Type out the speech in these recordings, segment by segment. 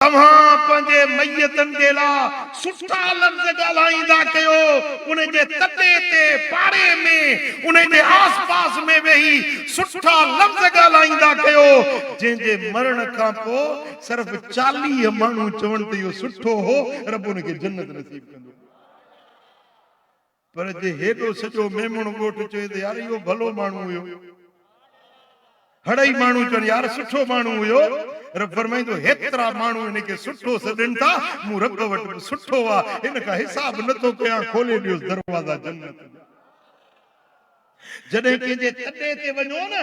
اوهان پنهنجي ميتن جي لاء سٺا لفظ ڳالهائيندا ڪيو، ان جي تڏي تي، پاڙي ۾، ان جي آس پاس ۾ ويهي سٺا لفظ ڳالهائيندا ڪيو، جنهن جي مرڻ کان پوء صرف چاليهه ماڻهو چون ته اهو سٺو هو، رب ان کي جنت نصيب ڪندو. پر جي هيڏو سڄو ميمڻ ڳوٺ چوي ته يار اهو ڀلو ماڻهو هيو. هڙئي ماڻهو چون يار سٺو ماڻهو هيو. رب فرمائين ٿو هيترا ماڻهو هن کي سٺو سڏين ٿا، مون رب وٽ به سٺو آ، هن کان حساب نه ٿو ڪيان، کولي ڏيوس دروازا جنت جا. جڏهن ڪنهن جي تڏي تي وڃو نه،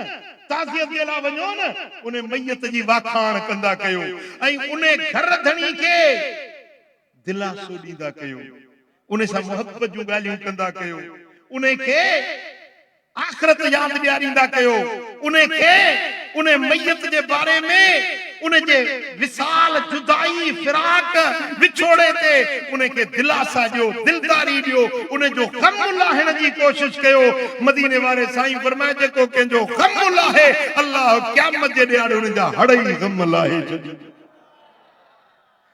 تعزيت جي لاء وڃو نه، انهي ميت جي واکاڻ ڪندا ڪيو ۽ انهي گهر ڌڻي کي. دلاسو ڏيندا ڪيو، انهي سان محبت جون ڳالهيون ڪندا ڪيو، انهي کي آخرت ياد ڏياريندا ڪيو، انهي کي انهي ميت جي باري ۾ ان جي وصال، جدائي، فراق، وڇوڙي تي انهي کي دلاسا ڏيو، دلداري ڏيو، ان جو غم لاهڻ جي ڪوشش ڪيو، مديني واري سائين فرمائي جيڪو ڪنهن جو غم لاهي الله قيامت جي ڏيهاڙي ان جا هڙئي غم لاهي ڇڏيندو.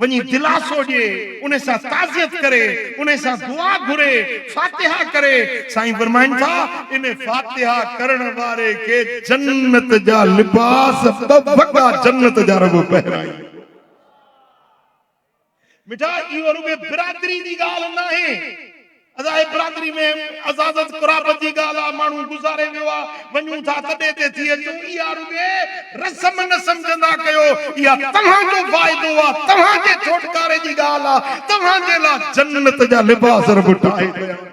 وڃي دلاسو ڏي، انهي سان تعزيت ڪري، انهي سان دعا گهري، فاتحه ڪري، سائين فرمائن ٿا، ان فاتحه ڪرڻ واري کي جنت جا لباس ٻه وڳا جنت جا رڳو پهرائين. مٺا اهو رڳو برادري جي ڳالهه ناهي. اعضائي برادري ۾ عزازت قرابت جي ڳالهه آ، ماڻهو گذاري ويو آ، وڃون ٿا تڏي تي ٿي اچون، اها رڳي رسم نه سمجهندا ڪيو، اها توهان جو فائدو آ، توهان جي ڇوٽڪاري جي ڳالهه آ، توهان جي لا جنت جا لباس رب ٺاهي تيار ڪندو.